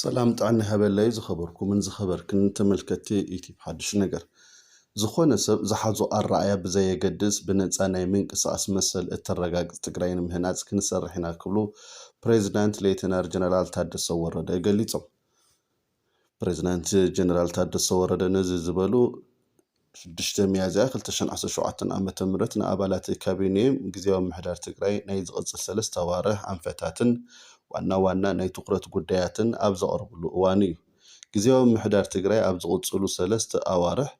ሰላም ጥዕና ይሃበለይ ዝኸበርኩምን ዝኸበርክን ተመልከቲ ዩቲብ ሓድሽ ነገር ዝኾነ ሰብ ዝሓዞ ኣረኣያ ብዘየገድስ ብነፃ ናይ ምንቅስቓስ መሰል እተረጋግፅ ትግራይ ንምህናፅ ክንሰርሕ ኢና ክብሉ ፕሬዚዳንት ሌተናር ጀነራል ታደሰ ወረደ ገሊፆም። ፕሬዝዳንት ጀነራል ታደሰ ወረደ ነዚ ዝበሉ ሽዱሽተ ሚያዝያ ክልተ ሽሕን ዓሰርተ ሸውዓተን ዓ ም ንኣባላት ካቢኔ ግዝያዊ ምምሕዳር ትግራይ ናይ ዝቕፅል ሰለስተ ኣዋርሕ ኣንፈታትን ዋና ዋና ናይ ትኹረት ጉዳያትን ኣብ ዘቕረብሉ እዋን እዩ። ግዝያዊ ምምሕዳር ትግራይ ኣብ ዝቕፅሉ ሰለስተ ኣዋርሕ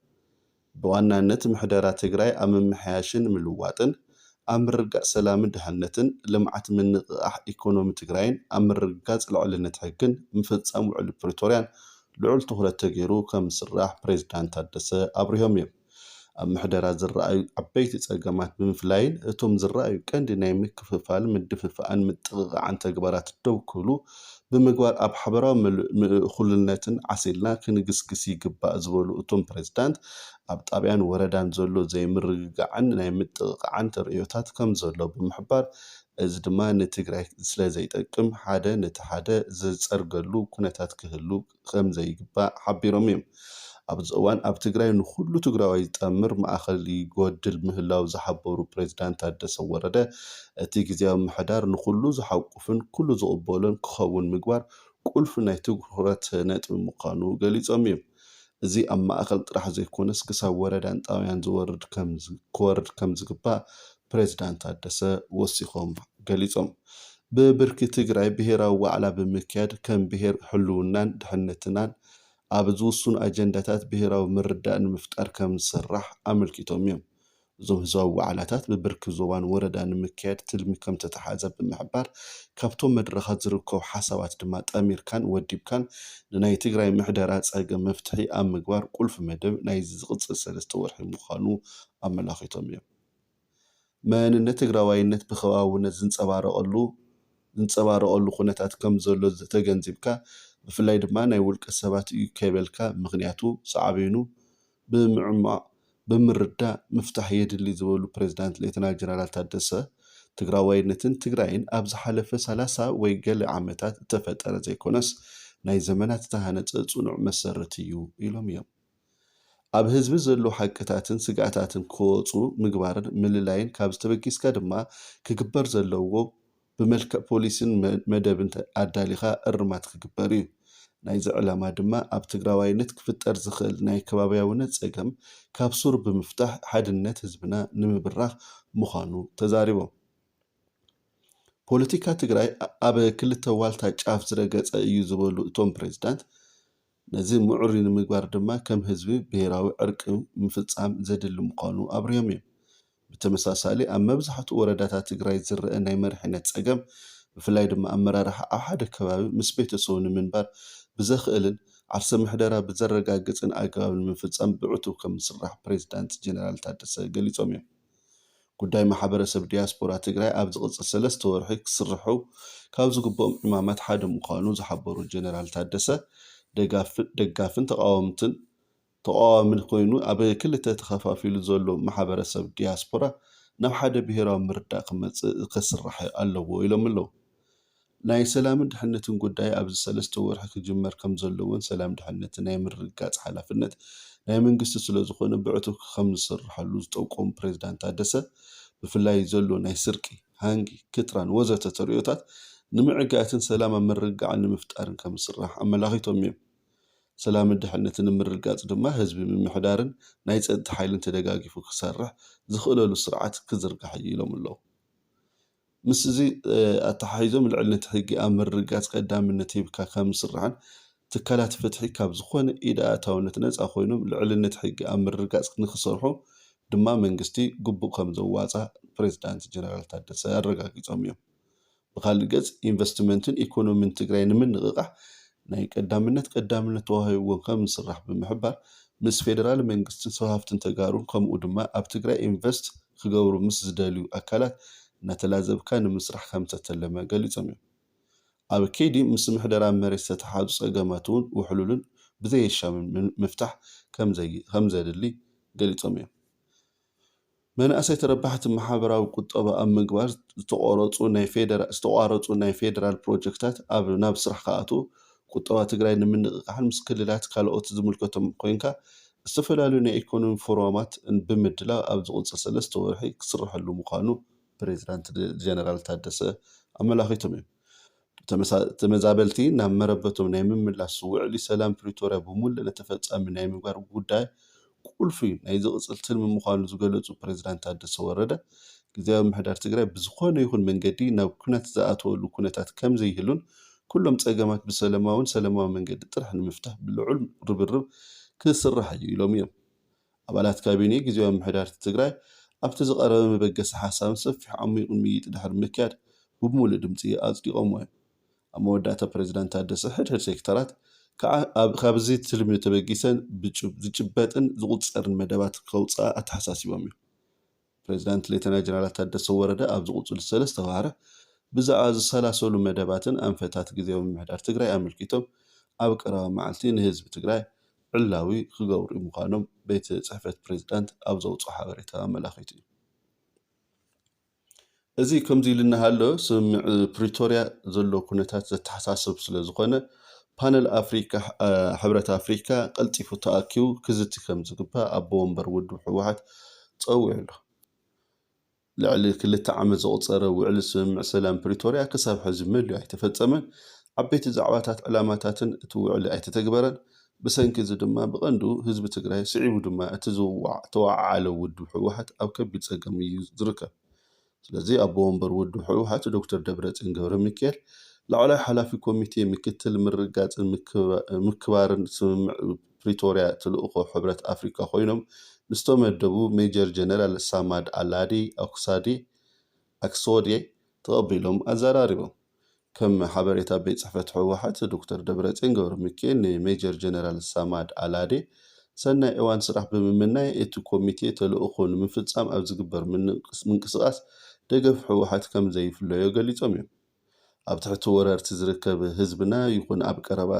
ብዋናነት ምሕደራ ትግራይ ኣብ ምምሕያሽን ምልዋጥን፣ ኣብ ምርግጋፅ ሰላምን ድሕነትን፣ ልምዓት ምንቕቓሕ ኢኮኖሚ ትግራይን ኣብ ምርግጋፅ ልዕልነት ሕግን ምፍፃም ውዕሊ ፕሪቶርያን ልዑል ትኹረት ተገይሩ ከምዝስራሕ ፕሬዚዳንት ታደሰ ኣብሪሆም እዮም። ኣብ ምሕደራ ዝረኣዩ ዓበይቲ ፀገማት ብምፍላይን እቶም ዝረኣዩ ቀንዲ ናይ ምክፍፋል፣ ምድፍፋእን ምጥቕቓዕን ተግባራት ደው ክብሉ ብምግባር ኣብ ሓበራዊ ምእኹልነትን ዓሲልና ክንግስግስ ይግባእ ዝበሉ እቶም ፕሬዚዳንት፣ ኣብ ጣብያን ወረዳን ዘሎ ዘይምርግጋዕን ናይ ምጥቕቓዕን ተርእዮታት ከምዘሎ ብምሕባር፣ እዚ ድማ ንትግራይ ስለዘይጠቅም ሓደ ነቲ ሓደ ዝፀርገሉ ኩነታት ክህሉ ከምዘይግባእ ሓቢሮም እዮም። ኣብዚ እዋን ኣብ ትግራይ ንኹሉ ትግራዋይ ዝጠምር ማእኸል ይጎድል ምህላው ዝሓበሩ ፕሬዝዳንት ታደሰ ወረደ እቲ ግዝያዊ ምምሕዳር ንኹሉ ዝሓቁፍን ኩሉ ዝቕበሎን ክኸውን ምግባር ቁልፊ ናይ ትኹረት ነጥቢ ምዃኑ ገሊፆም እዮም። እዚ ኣብ ማእኸል ጥራሕ ዘይኮነስ ክሳብ ወረዳን ጣብያን ክወርድ ከምዝግባእ ፕሬዝዳንት ታደሰ ወሲኾም ገሊፆም። ብብርኪ ትግራይ ብሄራዊ ዋዕላ ብምክያድ ከም ብሄር ህልውናን ድሕንነትናን ኣብ ዝውስኑ ኣጀንዳታት ብሄራዊ ምርድዳእ ንምፍጣር ከምዝስራሕ ኣመልኪቶም እዮም። እዞም ህዝባዊ ዋዕላታት ብብርኪ ዞባን ወረዳን ንምክያድ ትልሚ ከምዝተትሓዘ ብምሕባር ካብቶም መድረኻት ዝርከቡ ሓሳባት ድማ ጠሚርካን ወዲብካን ንናይ ትግራይ ምሕደራ ፀገም መፍትሒ ኣብ ምግባር ቁልፊ መደብ ናይዚ ዝቕፅል ሰለስተ ወርሒ ምዃኑ ኣመላኺቶም እዮም። መንነት ትግራዋይነት ብኸባብውነት ዝንፀባረቐሉ ዝንፀባረቐሉ ኩነታት ከም ዘሎ ተገንዚብካ ብፍላይ ድማ ናይ ውልቀ ሰባት እዩ ከይበልካ ምኽንያቱ ሳዕቤኑ ብምዕሟቕ ብምርዳእ ምፍታሕ የድሊ ዝበሉ ፕሬዝዳንት ሌተናል ጀነራል ታደሰ ትግራዋይነትን ትግራይን ኣብ ዝሓለፈ ሰላሳ ወይ ገለ ዓመታት እተፈጠረ ዘይኮነስ ናይ ዘመናት እተሃነፀ ፅኑዕ መሰረት እዩ ኢሎም እዮም። ኣብ ህዝቢ ዘሉ ሓቅታትን ስግኣታትን ክወፁ ምግባርን ምልላይን ካብዚ ተበጊስካ ድማ ክግበር ዘለዎ ብመልክዕ ፖሊሲን መደብን ኣዳሊኻ እርማት ክግበር ዩ። ናይዚ ዕላማ ድማ ኣብ ትግራዋይነት ክፍጠር ዝኽእል ናይ ከባብያውነት ፀገም ካብ ሱሩ ብምፍታሕ ሓድነት ህዝብና ንምብራኽ ምዃኑ ተዛሪቦም። ፖለቲካ ትግራይ ኣብ ክልተ ዋልታ ጫፍ ዝረገፀ እዩ ዝበሉ እቶም ፕሬዝዳንት፣ ነዚ ምዕሩይ ንምግባር ድማ ከም ህዝቢ ብሄራዊ ዕርቂ ምፍፃም ዘድሊ ምዃኑ ኣብሪሆም እዮም። ብተመሳሳሊ ኣብ መብዛሕትኡ ወረዳታት ትግራይ ዝረኣ ናይ መሪሕነት ፀገም ብፍላይ ድማ ኣመራርሓ ኣብ ሓደ ከባቢ ምስ ቤተሰቡ ንምንባር ብዘኽእልን ዓርሰ ምሕደራ ብዘረጋግፅን ኣገባብ ንምፍፃም ብዕቱብ ከምዝስራሕ ፕሬዚዳንት ጀነራል ታደሰ ገሊፆም እዮም። ጉዳይ ማሕበረሰብ ዲያስፖራ ትግራይ ኣብ ዝቕፅል ሰለስተ ወርሒ ክስርሑ ካብ ዝግብኦም ዕማማት ሓደ ምዃኑ ዝሓበሩ ጀነራል ታደሰ፣ ደጋፍን ተቓወምትን ተቓዋሚ ኮይኑ ኣብ ክልተ ተኸፋፊሉ ዘሎ ማሕበረሰብ ዲያስፖራ ናብ ሓደ ብሄራዊ ምርዳእ ክመፅእ ክስራሕ ኣለዎ ኢሎም'ለው። ናይ ሰላምን ድሕነትን ጉዳይ ኣብዚ ሰለስተ ወርሒ ክጅመር ከምዘለዎን ሰላም ድሕነትን ናይ ምርግጋፅ ሓላፍነት ናይ መንግስቲ ስለዝኾነ ብዕቱብ ክከምዝስርሐሉ ዝጠቆሙ ፕሬዝዳንት ታደሰ ብፍላይ ዘሎ ናይ ስርቂ፣ ሃንጊ፣ ክትራን ወዘተ ተርእዮታት ንምዕጋትን ሰላም ኣብ ምርግጋዕን ንምፍጣርን ከምዝስራሕ ኣመላኺቶም እዮም። ሰላምን ድሕነትን ንምርግጋፅ ድማ ህዝቢ ምምሕዳርን ናይ ፀጥታ ሓይልን ተደጋጊፉ ክሰርሕ ዝኽእለሉ ስርዓት ክዝርጋሕ እዩ ኢሎም ኣለው። ምስዚ ኣተሓሒዞ ልዕልነት ሕጊ ኣብ ምርግጋፅ ቀዳምነት ሂብካ ካብ ምስራሕን ትካላት ፍትሒ ካብ ዝኾነ ኢድ ኣእታውነት ነፃ ኮይኖም ልዕልነት ሕጊ ኣብ ምርግጋፅ ንክሰርሑ ድማ መንግስቲ ግቡእ ከምዘዋፅኣ ፕሬዝዳንት ጀነራል ታደሰ ኣረጋጊፆም እዮም። ብኻሊእ ገፅ ኢንቨስትመንትን ኢኮኖሚን ትግራይ ንምንቕቓሕ ናይ ቀዳምነት ቀዳምነት ተዋሂብዎ ከምዝስራሕ ብምሕባር፣ ምስ ፌደራል መንግስትን ሰብ ሃፍትን ተጋሩን ከምኡ ድማ ኣብ ትግራይ ኢንቨስት ክገብሩ ምስ ዝደልዩ ኣካላት እናተላዘብካ ንምስራሕ ከምዝተተለመ ገሊፆም እዮም። ኣብ ከይዲ ምስ ምሕደራ መሬት ዝተተሓዙ ፀገማት እውን ውሕሉልን ብዘየሻምን ምፍታሕ ከምዘድሊ ገሊፆም እዮም። መናእሰይ ተረባሕቲ ማሕበራዊ ቁጠባ ኣብ ምግባር ዝተቋረፁ ናይ ፌዴራል ፕሮጀክታት ኣብ ናብ ስራሕ ክኣትዉ ቁጠባ ትግራይ ንምንቕቓሕን ምስ ክልላትን ካልኦት ዝምልከቶም ኮይንካ ዝተፈላለዩ ናይ ኢኮኖሚ ፎረማት ብምድላው ኣብ ዝቕፅል ሰለስተ ወርሒ ክስረሐሉ ምዃኑ ፕሬዝዳንት ጀነራል ታደሰ ኣመላኺቶም እዮም። ተመዛበልቲ ናብ መረበቶም ናይ ምምላስ ውዕሊ ሰላም ፕሪቶርያ ብሙሉእነት ተፈፃሚ ናይ ምግባር ጉዳይ ቁልፊ ናይ ዝቕፅል ትልሚ ምዃኑ ዝገለፁ ፕሬዚዳንት ታደሰ ወረደ፣ ግዚያዊ ምምሕዳር ትግራይ ብዝኾነ ይኹን መንገዲ ናብ ኲናት ዝኣትወሉ ኩነታት ከምዘይህሉን ኩሎም ፀገማት ብሰለማውን ሰለማዊ መንገዲ ጥራሕ ንምፍታሕ ብልዑል ርብርብ ክስራሕ እዩ ኢሎም እዮም። ኣባላት ካቢኔ ግዜያዊ ምምሕዳር'ቲ ትግራይ ኣብቲ ዝቐረበ መበገሲ ሓሳብን ሰፊሕ ዓሚቝን ምይይጥ ድሕሪ ምክያድ ብብምሉእ ድምጺ ኣጽዲቖምዎ'ዮም። ኣብ መወዳእታ ፕረዚዳንት ታደሰ ሕድ ሕድ ሴክተራት ከኣ ካብዚ ትልሚ ተበጊሰን ዝጭበጥን ዝቑጸርን መደባት ከውጽኣ ኣተሓሳሲቦም'ዮም። ፕሬዚዳንት ሌተና ጀነራል ታደሰ ወረደ ኣብ ዝቕፅሉ ሰለስተ ዋርሕ ብዛዕባ ዝሰላሰሉ መደባትን ኣንፈታት ግዚያዊ ምምሕዳር ትግራይ ኣመልኪቶም ኣብ ቀረባ መዓልቲ ንህዝቢ ትግራይ ዕላዊ ክገብሩ ምዃኖም ቤት ፅሕፈት ፕሬዚዳንት ኣብ ዘውፅኦ ሓበሬታ ኣመላኺቱ እዩ። እዚ ከምዚ ኢሉ እናሃሎ ስምምዕ ፕሪቶርያ ዘሎ ኩነታት ዘተሓሳስብ ስለዝኾነ ፓነል ኣፍሪካ ሕብረት ኣፍሪካ ቀልጢፉ ተኣኪቡ ክዝቲ ከምዝግባእ ኣቦ ወንበር ውድብ ህወሓት ፀዊዑ ኣሎ። ልዕሊ ክልተ ዓመት ዘቑፀረ ውዕሊ ስምምዕ ሰላም ፕሪቶርያ ክሳብ ሕዚ መሊኡ ኣይተፈፀመን። ዓበይቲ ዛዕባታት ዕላማታትን እቲ ውዕሊ ኣይተተግበረን። ብሰንኪ እዚ ድማ ብቐንዱ ህዝቢ ትግራይ ስዒቡ ድማ እቲ ዝተወዓዓለ ውድብ ህወሓት ኣብ ከቢድ ፀገም እዩ ዝርከብ። ስለዚ ኣቦ ወንበር ውድብ ህወሓት ዶክተር ደብረፅዮን ገብረሚካኤል ላዕለዋይ ሓላፊ ኮሚቴ ምክትል ምርግጋፅን ምክባርን ስምምዕ ፕሪቶርያ ተልእኾ ሕብረት ኣፍሪካ ኮይኖም ንዝተመደቡ ሜጀር ጀነራል ሳማድ ኣላዲ ኣኩሳዴ ኣክሶዴ ተቐቢሎም ኣዘራሪቦም። ከም ሓበሬታ ቤት ፅሕፈት ህወሓት ዶክተር ደብረፅዮን ገብረሚካኤል ንሜጀር ጀነራል ሳማድ ኣላዴ ሰናይ እዋን ስራሕ ብምምናይ እቲ ኮሚቴ ተልእኾ ንምፍፃም ኣብ ዝግበር ምንቅስቓስ ደገፍ ህወሓት ከምዘይፍለዮ ገሊፆም እዮም። ኣብ ትሕቲ ወረርቲ ዝርከብ ህዝብና ይኹን ኣብ ቀረባ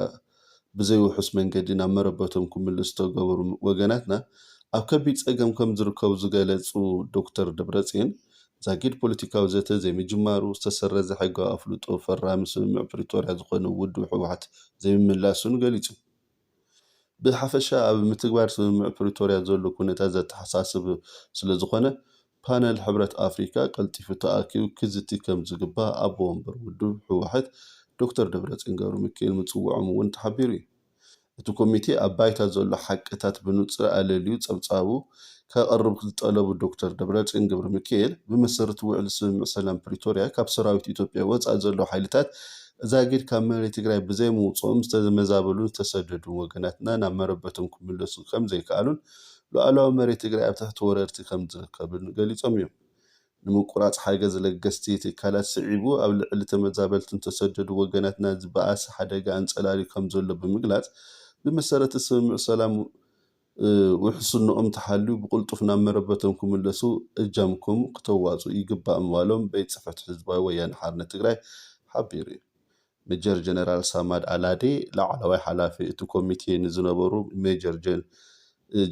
ብዘይ ውሑስ መንገዲ ናብ መረበቶም ክምልሱ ዝተገበሩ ወገናትና ኣብ ከቢድ ፀገም ከምዝርከቡ ዝገለፁ ዶክተር ደብረፅዮን ዛጊድ ፖለቲካዊ ዘተ ዘይምጅማሩ፣ ዝተሰረዘ ሕጋዊ ኣፍልጦ ፈራሚ ስምምዕ ፕሪቶርያ ዝኾነ ውድብ ህወሓት ዘይምምላሱን ገሊፆም። ብሓፈሻ ኣብ ምትግባር ስምምዕ ፕሪቶርያ ዘሎ ኩነታት ዘተሓሳስብ ስለዝኾነ ፓነል ሕብረት ኣፍሪካ ቀልጢፉ ተኣኪቡ ክዝቲ ከምዝግባእ ኣቦ ወንበር ውድብ ህወሓት ዶክተር ደብረፅዮን ገብረሚካኤል ምፅውዖም እውን ተሓቢሩ እዩ። እቲ ኮሚቴ ኣብ ባይታ ዘሎ ሓቅታት ብንፁር ኣለልዩ ፀብፃቡ ከቕርብ ዝጠለቡ ዶክተር ደብረፅዮን ገብረሚካኤል፣ ብመሰረት ውዕሊ ስምምዕ ሰላም ፕሪቶርያ ካብ ሰራዊት ኢትዮጵያ ወፃኢ ዘለዉ ሓይልታት ዛጊድ ካብ መሬት ትግራይ ብዘይምውፅኦም ዝተመዛበሉን ዝተሰደዱን ወገናትና ናብ መረበቶም ክምለሱ ከምዘይከኣሉን ሉኣላዊ መሬት ትግራይ ኣብ ትሕቲ ወረርቲ ከምዝርከብን ገሊፆም እዮም። ንምቁራፅ ሓገዝ ለገስቲ ትካላት ስዒቡ ኣብ ልዕሊ ተመዛበልትን ዝተሰደዱ ወገናትናን ዝበኣሰ ሓደጋ ኣንፀላልዩ ከምዘሎ ብምግላፅ ብመሰረተ ስምምዕ ሰላም ውሕስንኦም ተሓልዩ ብቕልጡፍ ናብ መረበቶም ክምለሱ እጃምኩም ክተዋፅኡ ይግባእ ምባሎም ቤት ፅሕፈት ህዝባዊ ወያነ ሓርነት ትግራይ ሓቢሩ እዩ። ሜጀር ጀነራል ሳማድ ኣላዴ፣ ላዕለዋይ ሓላፊ እቲ ኮሚቴ ንዝነበሩ ሜጀር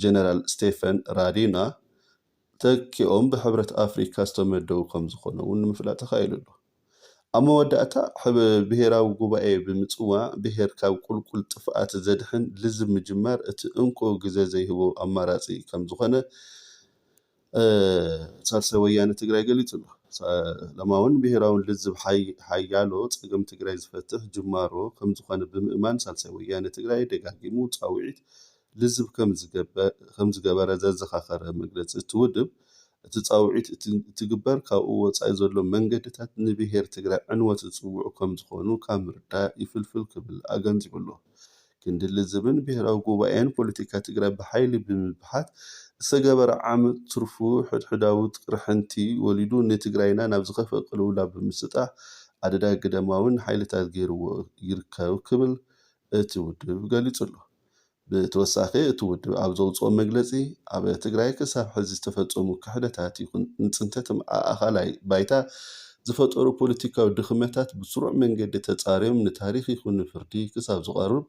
ጀነራል ስቴፈን ራዲና ተኪኦም ብሕብረት ኣፍሪካ ዝተመደቡ ከምዝኾኑ እውን ንምፍላጥ ተኻኢሉ ኣሎ። ኣብ መወዳእታ ብሄራዊ ጉባኤ ብምፅዋዕ ብሄር ካብ ቁልቁል ጥፍኣት ዘድሕን ልዝብ ምጅማር እቲ እንኮ ግዘ ዘይህቦ ኣማራፂ ከምዝኾነ ሳልሳይ ወያነ ትግራይ ገሊፁ ኣሎ። ሰላማውን ብሄራውን ልዝብ ሓያሎ ፀገም ትግራይ ዝፈትሕ ጅማሮ ከምዝኾነ ብምእማን ሳልሳይ ወያነ ትግራይ ደጋጊሙ ፃውዒት ልዝብ ከምዝገበረ ዘዘኻኸረ መግለፂ እቲ ውድብ እቲ ፃውዒት እንትግበር ካብኡ ወፃኢ ዘሎ መንገድታት ንብሄር ትግራይ ዕንወት ዝፅውዑ ከምዝኾኑ ካብ ምርዳእ ይፍልፍል ክብል ኣገንዚቡ ኣሎ። ክንዲ ልዝብን ብሄራዊ ጉባኤን ፖለቲካ ትግራይ ብሓይሊ ብምብሓት ዝተገበረ ዓመፅ ትርፉ ሕድሕዳዊ ቅርሕንቲ ወሊዱ ንትግራይና ናብ ዝኸፍኣ ቅልውላው ብምስጣሕ ኣደዳ ግዳማዊን ሓይልታት ገይርዎ ይርከብ ክብል እቲ ውድብ ገሊፁ'ሎ። ብተወሳኺ እቲ ውድብ ኣብ ዘውፅኦ መግለፂ ኣብ ትግራይ ክሳብ ሕዚ ዝተፈፀሙ ክሕደታት ይኹን ንፅንተት ማኣእኸላይ ባይታ ዝፈጠሩ ፖለቲካዊ ድኽመታት ብስሩዕ መንገዲ ተፃርዮም ንታሪኽ ይኹን ንፍርዲ ክሳብ ዝቐርብ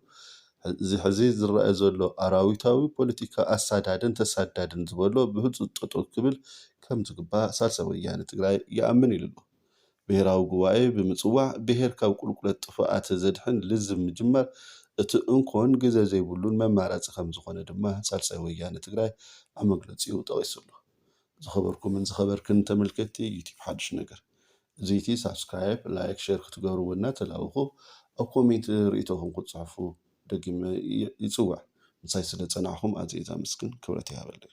እዚ ሕዚ ዝረኣ ዘሎ ኣራዊታዊ ፖለቲካ ኣሳዳድን ተሳዳድን ዝበሎ ብህፁፅ ጠጠው ክብል ከምዝግባእ ሳልሳይ ወያነ ትግራይ ይኣምን ኢሉ'ሎ። ብሄራዊ ጉባኤ ብምፅዋዕ ብሄር ካብ ቁልቁለት ጥፍኣት ዘድሕን ልዝብ ምጅማር እቲ እንኮን ግዘ ዘይብሉን መማረፂ ከምዝኾነ ድማ ሳልሳይ ወያነ ትግራይ ኣብ መግለፂኡ ጠቒሱ'ሎ። ዝኸበርኩምን ዝኸበርክን ተመልከትቲ ዩቱብ ሓዱሽ ነገር እዚቲ ሳብስክራይብ ላይክ ሸር ክትገብርዎ እናተላበኹ ኣብ ኮሜንት ርእይቶኹም ክትፅሕፉ ደጊመ ይፅውዕ ምሳይ ስለ ፀናሕኹም ኣዝየ ዛመስግን ክብረት ይሃበለይ።